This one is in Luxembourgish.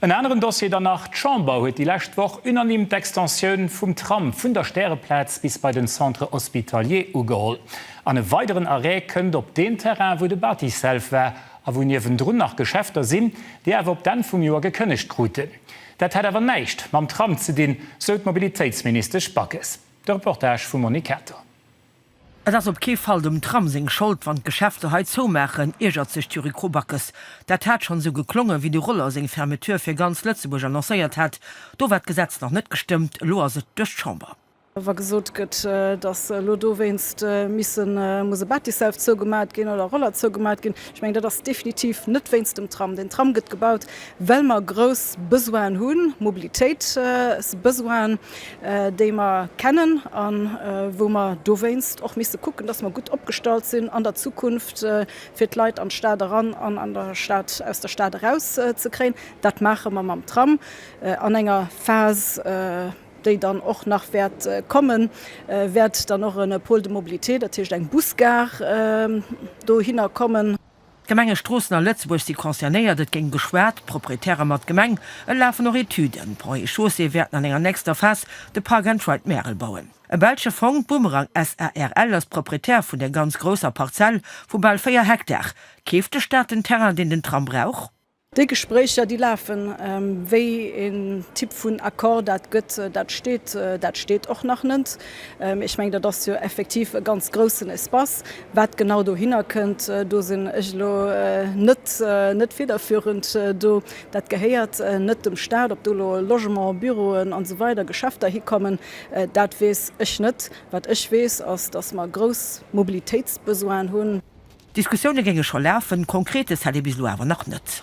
En aneren Dossier dann nach, D'Chamber huet déi lescht Woch unanime d'Extensioun vum Tram vun der Stäreplaz bis bei den Centre hospitalier ugeholl. An e weideren Arrêt kënnt op deem Terrain, wou de Batiself war a wou niewendrun nach Geschäfter sinn, déi awer op d'Enn vum Joer gekënnegt kruten. Dat hätt awer näischt mam Tram ze dinn, sou d'Mobilitéitsministesch Backes. De Reportage vum Monique Kater. Et ass op kee Fall dem Tram seng Schold, wann d'Geschäfter hei zoumaachen, iergert sech d'Jury Krobackes. Dat hat schonn esou geklongen, wéi de Roller seng Fermeture fir ganz Lëtzebuerg annoncéiert hat. Do war d'Gesetz nach net gestëmmt, elo ass et duerch d'Chamber. Wa gesot gëtt, datt elo dowéinst missen, muss e Bâtissself zougemaacht ginn oder Roller zougemaacht ginn, ech mengen, dat ass definitiv net wéinst dem Tram. Den Tram gëtt gebaut, well mer grouss Besoinen hunn, Mobilitéitsbesoinen. déi mer kennen a wou mer dowéinst och misste kucken, dass mer gutt opgestallt sinn an der Zukunft, fir d'Leit an d'Stad eran an an der Stad aus der Stad eraus ze kréien. Dat maache mer mam Tram an enger Phas, déi dann och nach wäert kommen, wäert dann och e Pôle de mobilité, dat heescht eng Busgare, dohinner kommen. D'Gemenge Stroossen a Lëtzebuerg si concernéiert, et géing geschwat, d'Proprietäre mat Gemeng, et lafen och Etüden. D'Ponts et Chaussées wäerten an enger nächster Phas de Park and Ride Märel bauen. E belsche Fong, Bumerang SARL, ass Proprietär vun der ganz grousser Parzell vu bal 4 Hektar. Keeft de Staat den Terrain, deen den Tram brauch? Déi Gespréicher, déi lafen. Wéi een Typ vun Accord dat gëtt, dat steet, dat steet och nach net. Ech mengen, dat ass jo effektiv e ganz groussen Espace. Wat genau dohinner kënnt, do sinn ech elo net, net federführend do. Dat gehéiert net dem Stat. Ob do elo Logement, Büroen an esou weider, Geschäfter hikommen, dat weess ech net. Wat ech weess, ass, dass mer grouss Mobilitéitsbesoinen hunn. D'Diskussioune géinge scho lafen, Konkretes hätt ee bis elo awer nach net.